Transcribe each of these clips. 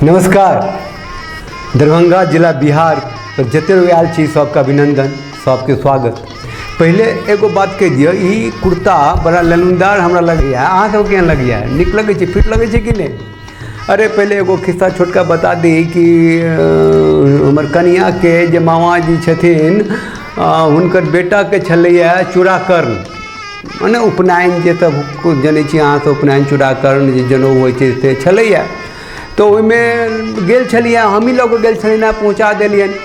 नमस्कार दरभंगा जिला बिहार पर जते लोग आयल छी सबके अभिनंदन सबके स्वागत पहिले एगो बात कहि दिअ ई कुर्ता बड़ा लनुदार हमरा लगैए अहाँ सबके केहन लगैए नीक लगै छै फिट लगै छै कि नहि अरे पहिले एगो खिस्सा छोटका बता दी कि अ, हमर कनियाँके जे मामाजी छथिन अ, हुनकर बेटाके छलैए चूड़ाकर्ण मने उपनयन जे सब किछु जनै छी अहाँ सब उपनयन चूड़ाकरण जे जनउ होइ छै से छलैया तऽ ओहिमे गेल छलियै हमही लऽ कऽ गेल छलियनि हँ पहुँचा देलियनि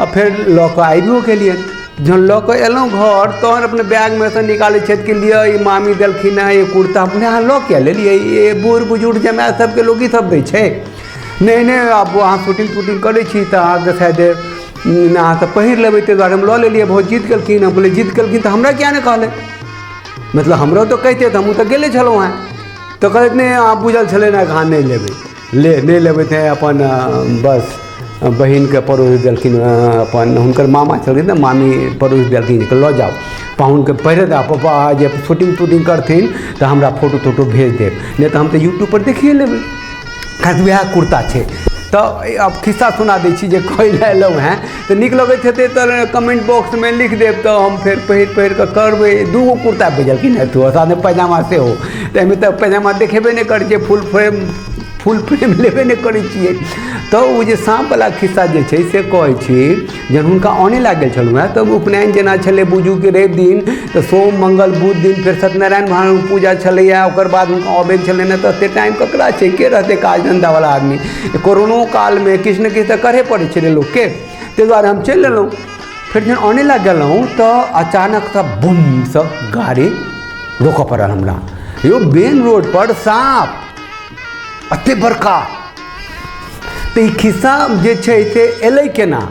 आ फेर लऽ कऽ आबियो गेलियनि जहन लऽ कऽ एलहुँ घर तहन अपने बैगमे सँ निकालै छथि कि लिअ ई मामी देलखिन हँ ई कुर्ता अपने अहाँ लऽ किए लेलियै ई बूढ़ बुजुर्ग जमाए सबके लोक ई सब दै छै नहि नहि आब अहाँ शूटिंग तूटिंग करै छी तऽ अहाँके शायद ना तऽ पहिर लेबै ताहि दुआरे हम लऽ लेलियै बहुत जीत केलखिन हम बोले जीत केलखिन तऽ हमरा किया नहि कहले मतलब हमरो तो कहते तऽ हमहूँ तऽ गेले छलहुँ हेँ तऽ कहलैत नहि अहाँ बुझल छलै ने अहाँ नहि लेबै ले नहि लेबै तऽ अपन अ, बस अ, बहिनके पड़ोस देलखिन अ, अपन हुनकर मामा छलखिन ने मामी पड़ोस देलखिन जे लऽ जाउ पाहुनके पहिरे दऽ पप्पा जे शूटिंग तूटिंग करथिन तऽ हमरा फोटो तोटो भेज देब नहि तऽ हम तऽ यूट्यूबपर देखिए लेबै खास वएह कुर्ता छै तऽ अब खिस्सा सुना दै छी जे कोइ लए एलहुँ हेँ तऽ नीक लगैत हेतै तऽ कमेंट बॉक्समे लिख देब तऽ हम फेर पहिर पहिर कऽ करबै दूगो कुर्ता भेजलखिन हेँ तू साथे पैजामा सेहो तऽ एहिमे तऽ पैजामा देखेबे नहि करै छै फुल फ्रेम फुल फ्रेम लेबे नहि करै छियै तऽ ओ जे साँपवला खिस्सा जे छै से कहै छी जहन हुनका आनय लए गेल छलहुँ हेँ तऽ उपनयन जेना छलै बुझू कि रवि दिन तऽ सोम मंगल बुध दिन फेर सत्यनारायण भगवान पूजा छलैए ओकर बाद हुनका अबै छलनि तऽ एतेक टाइम ककरा छै के रहतै काज धन्धावला आदमी कोरोनो कालमे किछु ने किछु तऽ करहे पड़ै छलै लोकके ताहि दुआरे हम चलि लेलहुँ फेर जहन आनय लए गेलहुँ तऽ अचानक सब बुम सब गाड़ी रोकऽ पड़ल हमरा यौ मेन रोड पर साँप एते बड़का तऽ ई खिस्सा जे छै से एलै केना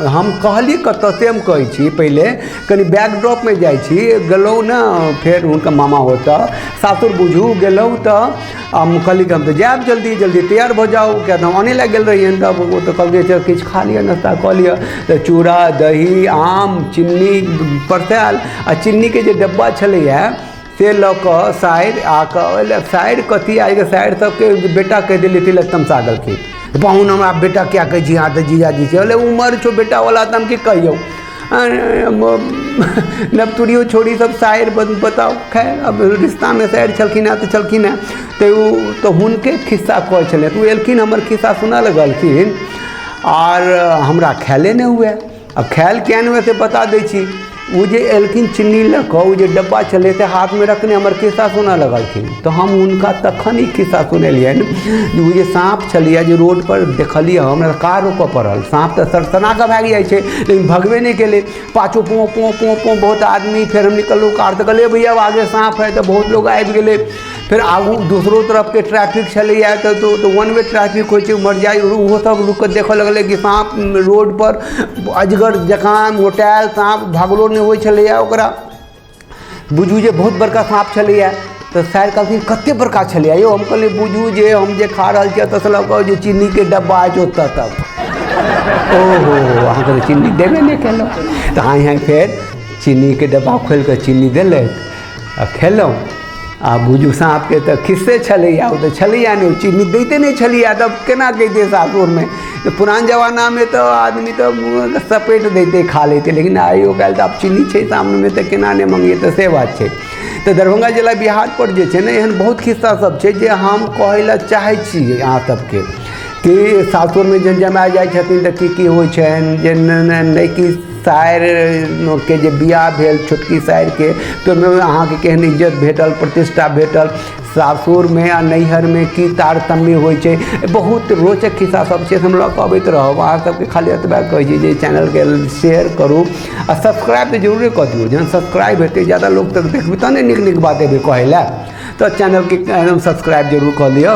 हम कहली कतऽ से हम कहै छी पहिले कनि बैकड्रॉपमे जाइ छी गेलहुँ ने फेर हुनका मामा ओतऽ सासुर बुझू गेलहुँ तऽ हम कहली कि हम तऽ जायब जल्दी जल्दी तैयार भऽ जाउ किया तऽ हम आने लए गेल रहियनि तब ओ तऽ कहलकै जे किछु खा लिअ नाश्ता कऽ लिअ तऽ चूड़ा दही आम चिन्नी परसायल आ चिन्नीके जे डब्बा छलैए से लऽ कऽ साइर आ कऽ साइर कथी आइ के साइर सबके बेटा कहि देली ती लग तमसा गेलखिन पाहुन हमरा बेटा क्या कहै छी अहाँ तऽ जीजाजी छै बोले उमर छौ बेटावला तऽ हम की कहियौ नवतुरियो छोड़ी सब साइर बत- बताओ खैर अब रिश्ता में साइर छलखिन हैं तो छलखिन हैं तो उ तो हुनके खिस्सा कहै छलै तो उ एलखिन हमर खिस्सा सुनऽ लगलखिन आर हमरा ख्याले नहि हुए आ खायल किया नहि हुए से बता दै छी ओ जे एलखिन चिन्नी लऽ कऽ ओ जे डब्बा छलै से हाथमे रखने हमर खिस्सा सुनऽ लगलखिन तऽ हम हुनका तखन ई खिस्सा सुनेलियनि जे ओ जे साँप छलैए जे रोड पर देखलियै हम हमरा कार रोकऽ पड़ल साँप तऽ सड़सना कऽ भागि जाइ छै लेकिन भगबे नहि केलै पाछू पों पों पों पों बहुत आदमी फेर हम निकललहुँ कार तऽ कहलियै भैया आगे साँप है तऽ बहुत लोग आबि गेलै फेर आगू दोसरो तरफके ट्रैफिक छलैए तऽ तऽ वन वे ट्रैफिक होइ छै उमहर जाइ ओहो सब रुकि कऽ देखऽ लगलै कि साँप रोडपर अजगर जकाँ मोटायल साँप भगलो नहि होइ छलैए ओकरा बुझू जे बहुत बड़का साँप छलैए तऽ सर कहलखिन कते बड़का छलैए यौ हम कहलियै बुझू जे हम जे खा रहल छियै ओतऽसँ लऽ कऽ जे चीनीके डब्बा अछि ओतऽ तक ओहो अहाँ कहलियै चीनी देबे नहि केलहुँ तऽ हाँय हाँय फेर चीनीके डब्बा खोलि कऽ चीनी देलथि आ खेलहुँ आ बुझू साँपके तऽ खिस्से छलैया ओ तऽ छलैया नहि ओ चीज दैते नहि छलैया तब केना जैतियै सासुरमे तऽ पुरान जमानामे तऽ आदमी तऽ मुँहमे सपैट दैतै खा लैतै लेकिन आइयो काल्हि तऽ आब चीनी छै सामनेमे तऽ केना नहि मँगियै तऽ से बात छै तऽ दरभंगा जिला बिहार पर जे छै ने एहन बहुत खिस्सा सब छै जे हम कहै लए चाहै छी अहाँ सबके कि सासुरमे जे जमाय जाइ छथिन तऽ की की होइ छनि जे नहि नहि नहि की सायरके जे बियाह भेल छोटकी सायरके तऽ ओहिमे अहाँके केहन इज्जत भेटल प्रतिष्ठा भेटल सासुरमे आ नैहरमे की तारतम्य होइ छै बहुत रोचक खिस्सा सब छै हम लऽ कऽ अबैत रहब अहाँ सबके खाली एतबा कहै छी जे चैनलके शेयर करू आ सब्सक्राइब तऽ जरूरे कऽ दियौ जहन सब्सक्राइब हेतै ज्यादा लोक तक देखबै तहने नीक नीक बात एबै कहै लए तऽ चैनलके सब्सक्राइब जरूर कऽ लिअ